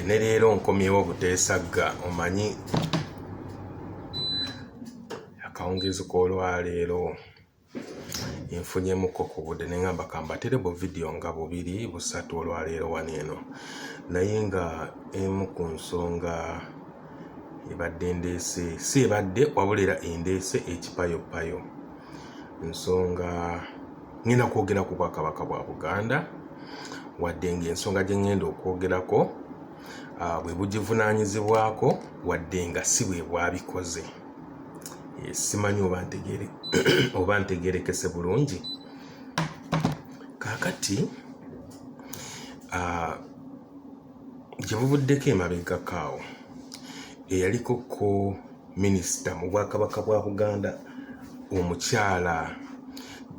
ne leero nkomyewo buteesagga omanyi akawungeezi k'olwaleero nfunyemuko ku budde ne ngamba kambatere bu vidiyo nga bubiri busatu olwaleero wano eno naye nga emu ku nsonga ebadde ndeese si ebadde wabulera endeese ekipayopayo nsonga ngenda kwogera ku bwakabaka bwa buganda wadde nga ensonga gye ngenda okwogerako ah, bwe bugivunaanyizibwako wadde nga si bwe bwabikoze eh, simanyi oba ntegerekese bulungi kakati ah, Gye buvuddeko emabegako awo eyaliko ko minisita mu bwakabaka bwa Buganda omukyala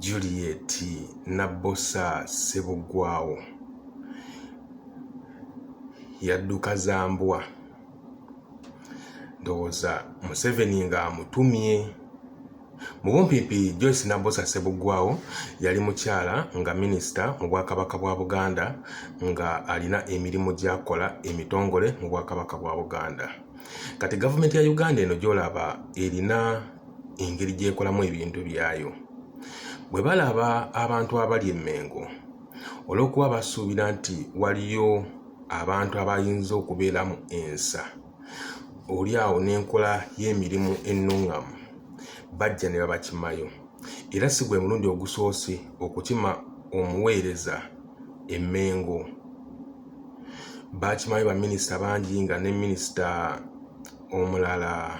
Juliet Nabbosa Ssebuggwawo yadduka za mbwa ndowooza Museveni ng'amutumye. Mu bumpiipi Joyce Nabbosa Ssebuggwawo yali mukyala nga minisita mu Bwakabaka bwa Buganda nga alina emirimu gy'akola emitongole mu Bwakabaka bwa Buganda. Kati gavumenti ya Uganda eno gy'olaba erina engeri gy'ekolamu ebintu byayo. Bwe balaba abantu abali e Mmengo olw'okuba basuubira nti waliyo abantu abayinza okubeeramu ensa. oli awo n'enkola y'emirimu ennungamu bajja ne babakimayo era si gwe mulundi ogusoose okukima omuweereza emmengo baakimayo baminisita bangi nga ne minisita omulala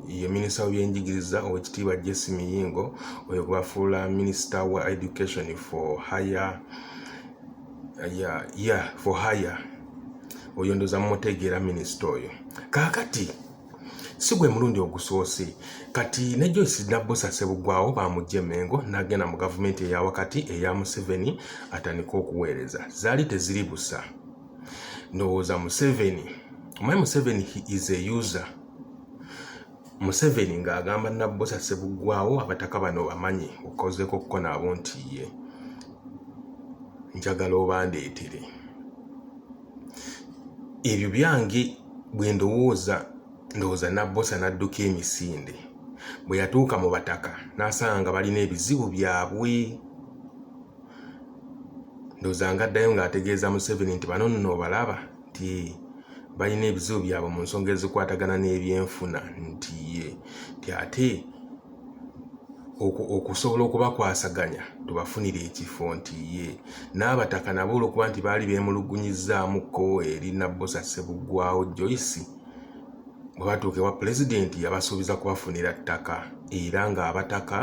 ye minisita w'ebyenjigiriza owekitiibwa jesse miyingo oyo gwebafuula minisita wa education for higher ya ya for hire oyo ndoza mumutegeera minisita oyo kaakati si gwe mulundi ogusoose kati ne joyce nabbosa sebugwawo bamugja emengo nagenda mu gavumenti eya wakati eya museveni atandika okuweereza zaali teziri busa ndowooza museveni omanyi museveni he is a user Museveni ng'agamba Nabbosa Ssebuggwawo abataka bano bamanyi okozeeko kuko nabo nti ye njagala obandeetere ebyo byange bwe ndowooza ndowooza Nabbosa n'adduka emisinde bwe yatuuka mu bataka n'asanga nga balina ebizibu byabwe ndowooza ng'addayo ng'ategeeza Museveni nti bano nno obalaba nti balina ebizibu byabwe mu nsonga ezikwatagana n'ebyenfuna nti ye nti ate okusobola okubakwasaganya tubafunire ekifo nti ye n'abataka nabo olwokuba nti baali beemulugunyizzaamukko eri nabbosa ssebuggwawo joyce bwe batuuka ewa pulezidenti yabasuubiza kubafunira ttaka era ng'abataka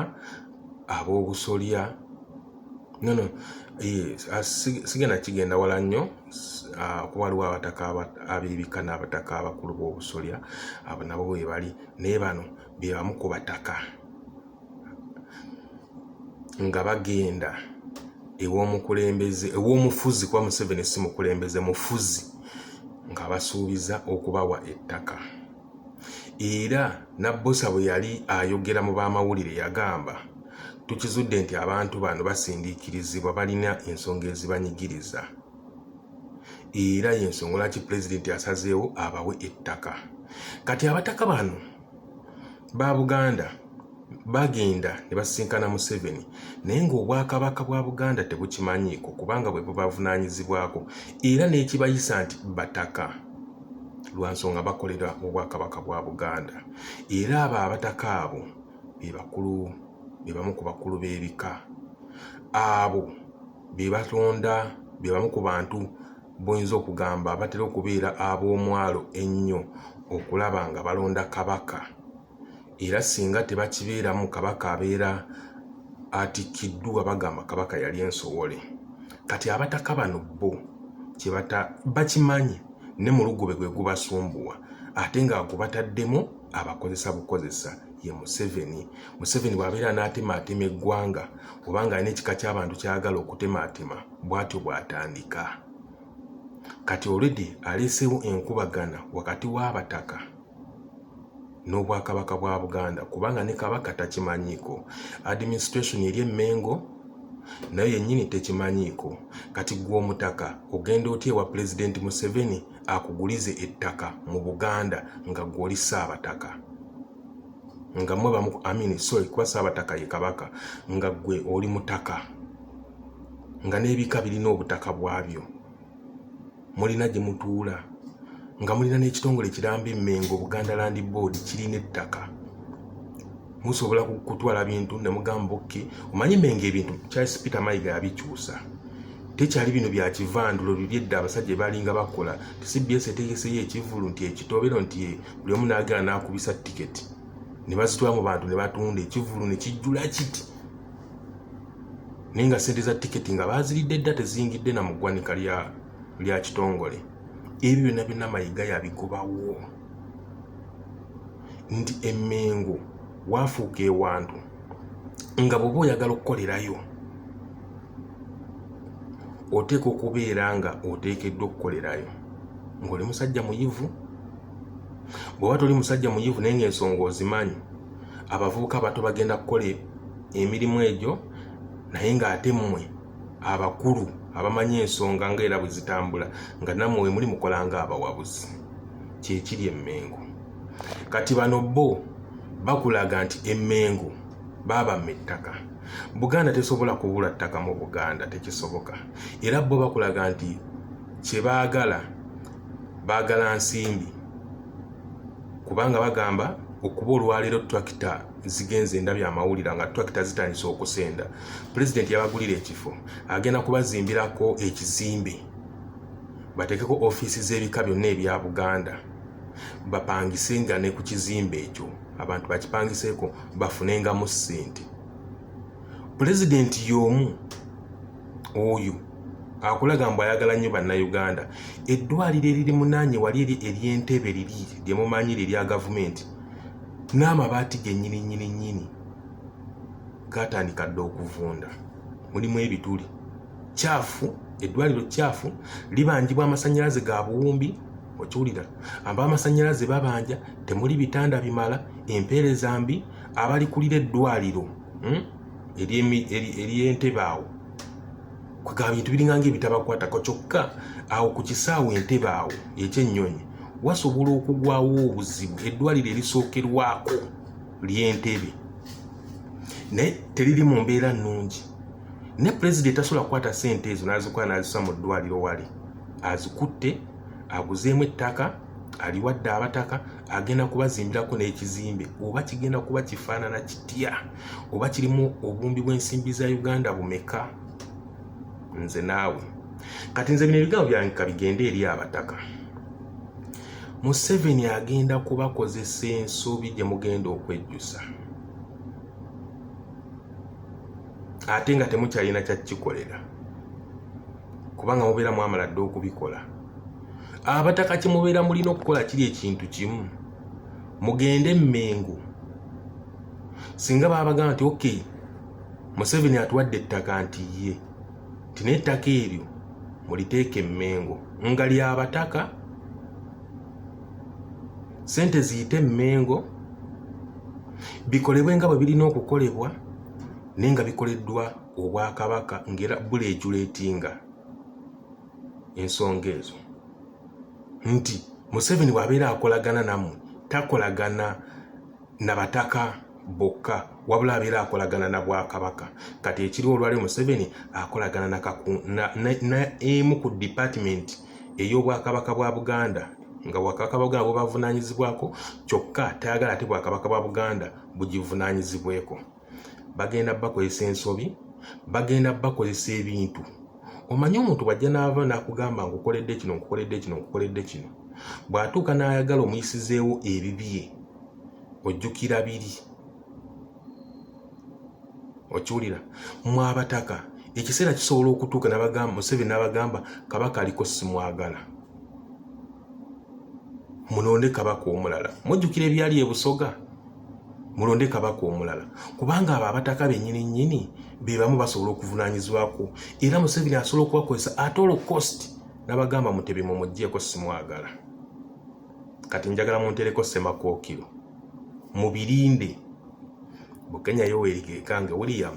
ab'obusolya nono eh, sigenda kigenda wala nnyo Ah, kuba waliwo abataka abebika n'abataka abakulu b'obusolya abo nabo bwebali naye bano bebamu ku bataka nga bagenda ew'omukulembeze ew'omufuzi kuba museveni si mukulembeze mufuzi nga basuubiza okubawa ettaka Era Nabbosa bwe yali ayogera mu baamawulire yagamba, Tukizudde nti abantu bano basindiikirizibwa balina ensonga ezibanyigiriza era y'ensonga lwaki Pulezidenti asazeewo abawe ettaka. Kati abataka bano ba Buganda bagenda ne basisinkana Museveni naye ng'Obwakabaka bwa Buganda tebukimanyiiko kubanga bwe bubavunaanyizibwako era n'ekibayisa nti bataka lwa nsonga bakolera Obwakabaka bwa Buganda era abo abataka abo be bakulu be bamu ku bakulu b'ebika abo be batonda be bamu ku bantu boyinza okugamba batera okubeera ab'omwalo ennyo okulaba nga balonda kabaka. era singa tebakibeeramu kabaka abeera atikkiddwa bagamba kabaka yali ensowole kati abataka bano bo kyebata bakimanyi ne mulugube gwe gubasumbuwa ate nga gubataddemu abakozesa bukozesa ye museveni museveni bw'abeera anaatemaatema eggwanga oba nga alina ekika ky'abantu kyagala okutemaatema bw'atyo bw'atandika kati olredi aleeseewo enkubagana wakati w'abataka n'obwakabaka bwa Buganda kubanga ne Kabaka takimanyiiko administration eri emengo nayo yennyini tekimanyiiko kati gwe omutaka ogenda otya ewa pulezidenti Museveni akugulize ettaka mu Buganda nga gwe oli Ssaabataka nga mwe bamu amini sorry kuba Ssaabataka ye Kabaka nga gwe oli mutaka nga n'ebika birina obutaka bwabyo mulina gye mutuula nga mulina n'ekitongole kiramba emmengo buganda land board kirina ettaka musobola kutwala bintu ne mugamba oke omanyi menga ebintu charles peter mayiga yabikyusa tekyali bino bya kivandulo bibyedda abasajja balinga bakola cbs etegeseyo ekivulu nti ekitobero nti buli omu naagala n'akubisa tiketi ne bazitwala mu bantu ne batunda ekivulu ne kijjula kiti naye nga sente za tiketi nga baziridde dda teziyingidde na mu ggwanika lya lya kitongole ebyo byonna byonna mayiga yabikubawo nti emengo waafuuka ewantu nga bwoba oyagala okukolerayo oteeka okubeera nga oteekeddwa okukolerayo ng'oli musajja muyivu bw'oba toli musajja muyivu naye ng'ensonga ozimanyi abavubuka abato bagenda kukola emirimu egyo naye ng'ate mmwe abakulu abamanyi ensonga nga era bwe zitambula nga nammwe we muli mukola nga abawabuzi kyekiri emmengo kati bano bo bakulaga nti emmengo baabamma ettaka buganda tesobola kubula ttaka mu buganda tekisoboka era bo bakulaga nti kye baagala baagala nsimbi kubanga bagamba okuba olwaleero trakita zigenze endabye amawulira nga twakita zitandise okusenda pulezidenti yabagulira ekifo agenda kubazimbirako ekizimbe batekeko ofiisi z'ebika byonna ebya buganda bapangise nga ne ku kizimbe ekyo abantu bakipangiseeko bafunengamu ssente pulezidenti y'omu oyo akulaga mbu ayagala nnyo bannayuganda eddwaliro eriri munaanye wali eri ery'entebe liri lyemumanyi lirya gavumenti n'amabaati gennyini nnyini nnyini gaatandika dda okuvunda mulimu ebituli kyafu eddwaliro kyafu libanjibwa amasannyalaze ga buwumbi okiwulira aba amasannyalaze babanja temuli bitanda bimala empeereza mbi abalikulira eddwaliro hmm? ery'entebe awo kwegamba bintu biringanga ebitabakwatako kyokka awo ku kisaawe entebe awo ekyennyonyi wasobola okugwawo obuzibu eddwaliro erisookerwako ly'entebe naye teriri mu mbeera nnungi ne pulezidenti tasobola kukwata sente ezo n'azikola n'azisa mu ddwaliro wali azikutte aguzeemu ettaka aliwadde abataka agenda kubazimbirako n'ekizimbe oba kigenda kuba kifaanana kitya oba kirimu obumbi bw'ensimbi za uganda bumeka nze naawe kati nze bino ebigambo byange kabigende eri abataka museveni agenda kubakozesa ensobi gye mugenda okwejjusa ate nga temukyalina kyakikolera kubanga mubeera mwamala dde okubikola abataka kyemubeera mulina okukola kiri ekintu kimu mugende emmengo singa babagamba nti ok museveni atuwadde ettaka nti ye nti naye ettaka eryo muliteeka emmengo nga lyabataka sente ziyite emmengo bikolebwe nga bwe birina okukolebwa naye nga bikoleddwa obwakabaka ngaera buli ejuleetinga ensonga ezo nti museveni bwabeera akolagana nammwe takolagana na bataka bokka wabula abeera akolagana na bwakabaka kati ekiriwo olwali museveni akolagana naemu ku dipatimenti ey'obwakabaka bwa buganda nga bwakabaka bwa buganda bwebavunanyizibwako kyokka tayagala ate bwakabaka bwa buganda bugivunanyizibweko bagenda bakozesa ensobi bagenda bakozesa ebintu omanyi omuntu bwajja naava nakugamba nkukoledde kino nkukoledde kino nkukoledde kino bw'atuuka n'ayagala omuyisizeewo ebibye ojjukira biri okiwulira mwabataka ekiseera kisobola okutuuka nabagamba museveni n'abagamba kabaka aliko simwagala munonde kabaka omulala mujjukira ebyali ebusoga mulonde kabaka omulala kubanga abo abataka benyini nyini bebamu basobola okuvunanyizibwako era museveni asobola okubakozesa ate olo cost nabagamba mutebi mumujeko simwagala kati njagala muntereko semakokiro mubirinde bukenya yowerikekange william